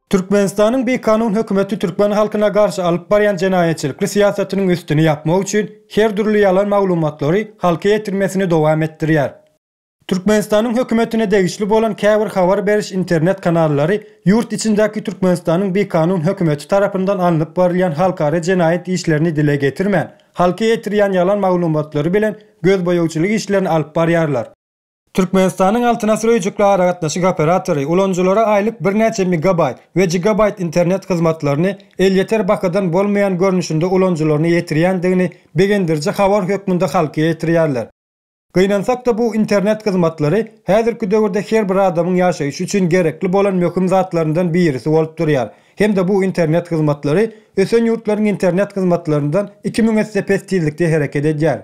Türkmenistanyň bikanun hökümeti türkmen halkyna garşy alyp barýan jenaýatçylykly syýasatynyň üstüni ýapmak üçin her dürli ýalan maglumatlary halka ýetirmesini dowam etdirýär. Türkmenistanyň hökümetine degişli bolan käbir habar beriş internet kanallary ýurt içindäki Türkmenistanyň bikanun hökümeti tarapyndan alnyp barylýan halkara jenaýat işlerini dile getirmän, halka ýetirýän ýalan maglumatlary bilen gözboýagçylyk işlerini alyp barýarlar. Türkmenistanyň Altyn asyr öýjükli aragatnaşyk operatory ulanyjylara aýlyk birnäçe megabaýt we gigabaýt internet hyzmatlaryny elýeter bahadan bolmaýan görnüşinde ulanyjylaryna ýetirýändigini begendiriji habar hökmünde halka ýetirýärler. Gynansak-da bu internet hyzmatlary häzirki döwürde her bir adamyň ýaşaýşy üçin gerekli bolan möhüm zatlaryndan birisi bolup durýar hem-de bu internet hyzmatlary ösen ýurtlaryň internet hyzmatlaryndan iki müň esse pes tizlikde hereket edýär.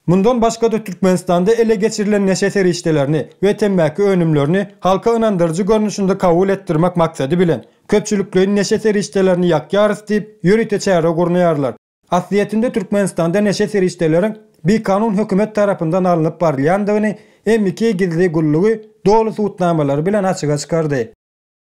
Mundan başga-da Türkmenistanda ele geçirilen neşe serişdelerini we temmäki önümlerini halka ynandyryjy görnüşinde kabul etdirmek maksady bilen, köpçülikleýin neşe serişdelerini ýakýarys diýip, ýörite çäre gurnaýarlar. Aslyýetinde Türkmenistanda neşe serişdeleriň bikanun hökümet tarapyndan alnyp barylýandygyny MIK gizli gullugy doly subutnamalary bilen açyga çykardy.